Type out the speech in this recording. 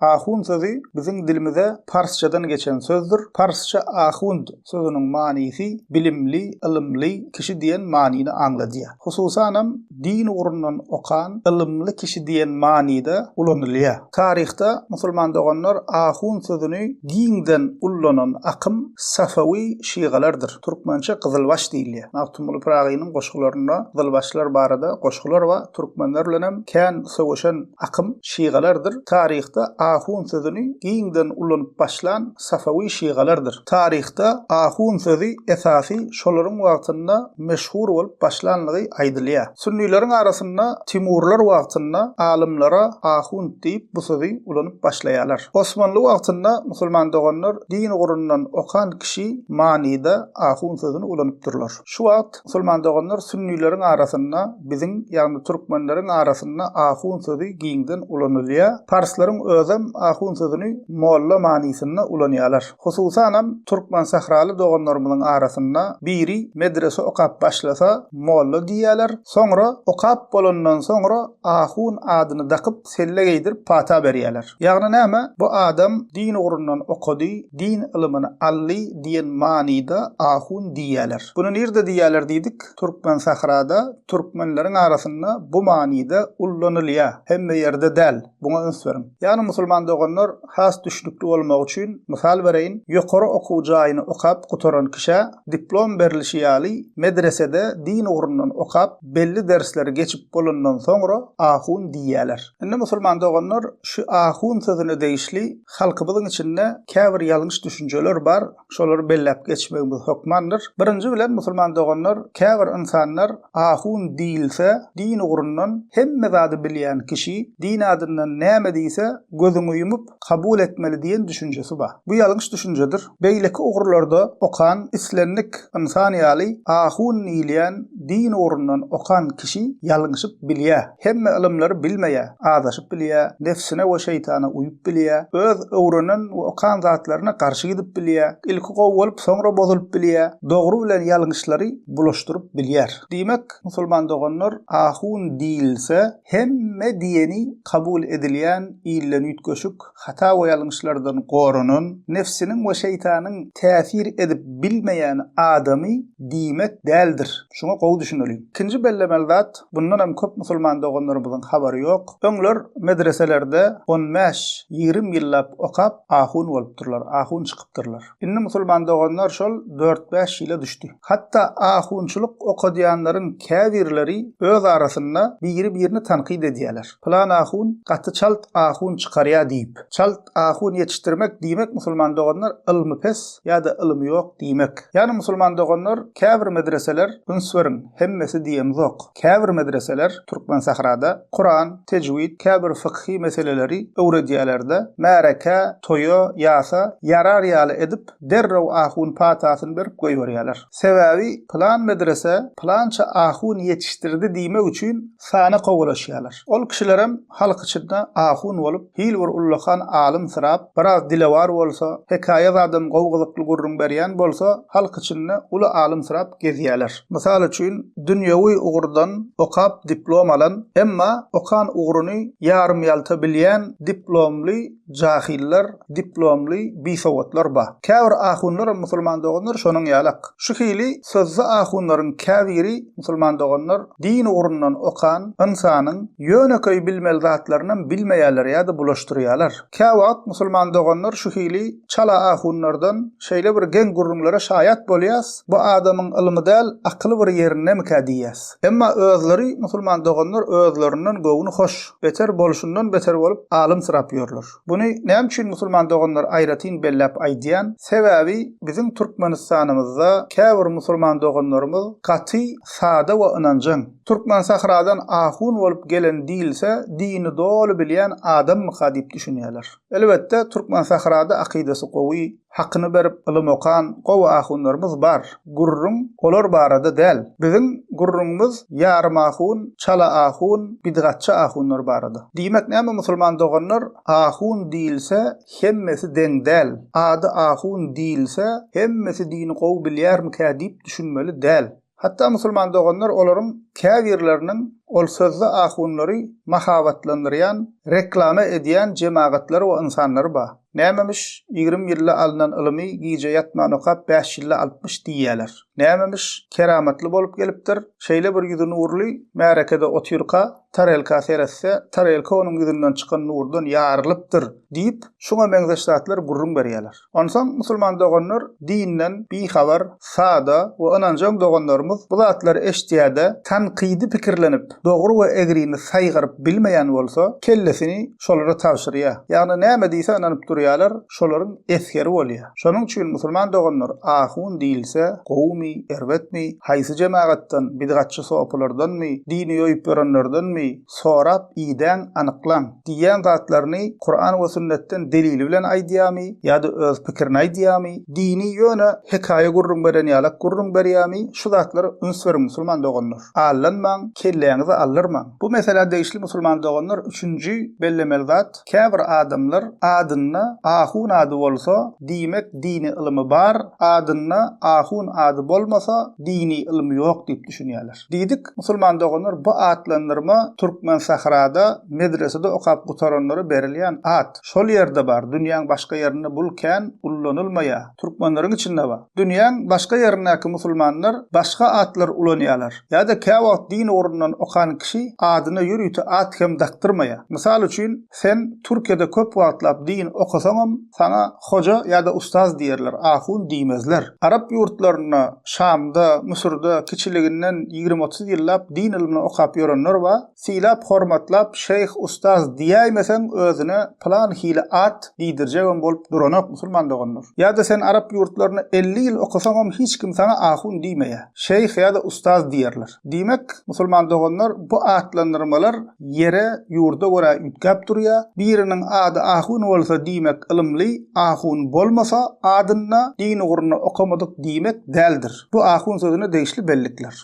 Ahun sözi biziň dilimize parsçadan geçen sözdür. Parsça ahund sözüniň manysy bilimli, ylymly kişi diýen manyny aňladýar. Hususanam din ugrundan okan ylymly kişi diýen manyda ulanylýar. Taryhda musulman doganlar ahun sözüni giňden ullanan akym safawi şygalardyr. Türkmençe gyzylbaş diýilýär. Magtymguly Pyragynyň goşgularynda gyzylbaşlar barada goşgular bar. Türkmenler bilenem kän söweşen Akym şygalardyr. Taryhda ahun sözüni giňden ulanyp başlan safawi şygalardyr. Taryhda ahun sözi esasy şolaryň wagtynda meşhur bolup başlanlygy aýdylýar. Sünnileriň arasynda Timurlar wagtynda alymlara ahunt diýip bu sözi ulanyp başlaýarlar. Osmanly wagtynda musulman doganlar din ugrundan okan kişi manyda ahun sözüni ulanypdyrlar. Şu wagt Musulman doganlar sünnileriň arasynda biziň, ýagny türkmenleriň arasynda ahun sözi giňden ulanylýar. Parslaryň özem ahun sözüni molla manysynda ulanýarlar. Hususanam türkmensähraly doganlarymyzyň arasynda biri medrese okap başlasa molla diýýärler, soňra okap bolandan soňra ahun adyny dakyp selle geýdirip pata berýärler. Ýagny näme? Bu adam din ugrundan okady, din ylymyny aldy diýen manyda ahun diýýärler. Bunu nirde diýýärler diýdik? Türkmensahrada, türkmenleriň arasynda bu manyda ullanylýar. Hemme ýerde däl. Buňa üns beriň. Ýagny musulman doganlar has düşnükli bolmagy üçin mysal bereýin, ýokary okuw jaýyny okap gutaran kişä diplom berilişi ýaly medresede din ugrundan okap, belli dersleri geçip bolandan soňra ahun diýýäler. Indi musulman doganlar şu ahun sözüne degişli halkymyzyň içinde käbir ýalňyş düşünjeler bar, şolary belläp geçmegimiz hökmandyr. Birinji bilen musulman doganlar käbir ynsanlar ahun diýilse din ugrundan hemme zady bilýän kişi, din adyndan näme diýse gözüňi ýumup, kabul etmeli diýen düşünjesi bar. Bu ýalňyş düşünjedir. Beýleki ugurlarda okan islendik ynsan ýaly ahun diýilýän din ugrundan okan kişi ýalňyşyp bilýär. Hemme ylymlary bilmeýär, azaşyp bilýär, nebsine we şeýtana uýup bilýär, öz öwrenen we okan zatlaryna garşy gidip bilýär, ilki gowy bolup soňra bozulyp bilýär, dogry bilen ýalňyşlary bulaşdyryp bilýär. Diýmek, musulman doganlar ahun diýilse Hemme diýeni kabul edilýän ilden üýtgeşik, hata we ýalňyşlardan goranan, nebsiniň we şeýtanyň täsir edip bilmeýän adamy diýmek däldir. Şuňa gowy düşüneliň. Ikinji bellemeli zat, bundan hem köp musulman doganlarymyzyň habary ýok. Öňler medreselerde on bäş, ýigrimi ýyllap okap, ahun bolupdyrlar, ahun çykypdyrlar. Indi musulman doganlar şol dört-bäş ýyla düşdi. Hatda ahunçylyk okadýanlaryň käbirleri öz arasynda biri-birini tankyt edýärler. Pylan ahun gaty çalt ahun çykarýar diýip. Çalt ahun ýetişdirmek diýmek musulman doganlar ylmy pes ýa-da ylmy ýok diýmek. Ýagny musulman doganlar käbir medreseler üns beriň, hemmesi diýemizok. Käbir medreseler Türkmensährada Kuran, tejwid, käbir fykhy meseleleri öwredýäler-de, märekä, toýa, ýasa ýarar ýaly edip, derrew ahun patasyny berip goýberýärler. Sebäbi, pylan medrese pylança ahun ýetişdirdi diýmek üçin sana kowalaşýarlar. Ol kişilerem halk içinde ahun bolup, hil bir ullakan alymsyrap, biraz dilewar bolsa, hekaýa zadam gowy gyzykly gürrüň berýän bolsa, halk içinde uly alymsyrap gezýäler. Mysal üçin, dünýewi ugurdan okap diplom alan, emma okan ugruny ýarym-ýalta bilýän diplomly Jahyllar, diplomly bisowatlar ba. Käbir ahunlaram musulman doganlar şonuň ýalak. Şu hili sözde ahunlaryň käbiri musulman doganlar din ugrundan okan ynsanyň ýönekeý bilmeli zatlarynam bilmeýärler ýa-da bulaşdyrýarlar. Käwagt musulman doganlar şu hili çala ahunlardan şeýle bir geň gürrüňlere şaýat bolýas, bu adamyň ylmy däl, akyly bir ýerindemikä diýýäs. Emma özleri musulman doganlar özlerinden göwni hoş. beter bolşundan beter bolup alymsyrap ýörler. Buny näme üçin musulman doganlar aýratyn belläp aýdýan? Sebäbi biziň Türkmenistanymyzda käbir musulman doganlarymyz gaty sada we ynanjaň. Türkmensähradan ahun bolup gelen diýilse dini doly bilýän adammyka diýip düşünýärler. Elbetde Türkmensährada akydasy gowy, Hakyny berip ylym okan gowy ahunlarymyz bar. Gürrüň olar barada däl. Biziň gürrüňimiz ýarym ahun, çala ahun, bidgatçy ahunlar barada. Diýmek näme musulman doganlar, ahun diýilse hemmesi deň däl. Ady ahun diýilse hemmesi dini gowy bilýärmikä diýip düşünmeli däl. Hatda musulman doganlar olaryň käbirleriniň ol sözde ahunlary mahabatlandyrýan, reklama edýän jemagatlary we ynsanlary bar. Nämemiş, ýigrimi ýylda alnan ylymy gije ýatman okap bäş ýylda alypmyş diýýäler. Nämemiş, keramatly bolup gelipdir. Şeýle bir ýüzi nurly, märekede otyrka, tarelka seretse, tarelka onuň ýüzünden çykan nurdan ýarylypdyr diýip, şuňa meňzeş zatlar gürrüň berýäler. Onsoň, musulman doganlar, dinden bihabar, sada we ynanjaň doganlarymyz bu zatlary eşitýär-de, tankydy pikirlenip, dogry we egrini saýgaryp bilmeýän bolsa, kellesini şolara tabşyrýar. Ýagny näme diýse ynanyp durýarlar, şolaryň esgeri bolýar. Şonuň üçin, musulman doganlar, ahun diýilse, gowumy, erbetmi, haýsy jemagatdan, bidgatçy sopulardanmy, dini ýoýup ýörenlerdenmi, sorap, idäň, anyklaň, diýýän zatlaryny Kuran we sünnetden delili bilen aýdýamy ýa-da öz pikirini aýdýamy, dini ýöne hekaýa gürrüň beren ýalak gürrüň berýämi, şu zatlara üns beriň musulman doganlar. Allanmaň, kelläňizi aldyrmaň. Bu meselä degişli musulman doganlar üçünji bellemeli zat, käbir adamlar adynda ahun ady bolsa, diýmek dini ylymy bar, adynda ahun ady bolmasa, dini ylym ýok diýip düşünýärler. Diýdik, musulman doganlar bu atlandyrma Türkmensahrada medresede okap gutaranlara berilýän at. Şol ýerde bar, dünýäň başga ýerinde bul kän ullanylmaýar. Türkmenleriň içinde bar. Dünýäň başga ýerindäki musulmanlar başga atlar ulanýarlar. Ýa-da käwagt din ugrundan okan kişi adyna ýörite at hem dakdyrmaýar. Mysal üçin, sen Türkiýede köp wagtlap din okasaňam, Saňa hoja ýa-da ustaz diýerler, ahun diýmezler. Arap ýurtlarynda, Şamda, Müsürde kiçiliginden ýigrimi-otuz ýyllap din ylmyny okap ýörenler bar. Sylap-hormatlap şeýh, ustaz diýäýmeseň, özüne pylan hili at diýdirjegem bolup duranok musulman doganlar. Ýa-da sen arap ýurtlarynda elli ýyl okasaňam hiç kim saňa ahun diýmeýär. Şeýh ýa-da ustaz diýerler. Diýmek, musulman doganlar, bu atlandyrmalar ýere, ýurda görä üýtgäp durýar. Biriniň ady ahun bolsa, diýmek, ylymly, ahun bolmasa, adynda din ugrunda okamadyk diýmek däldir. Bu ahun sözüne degişli bellikler.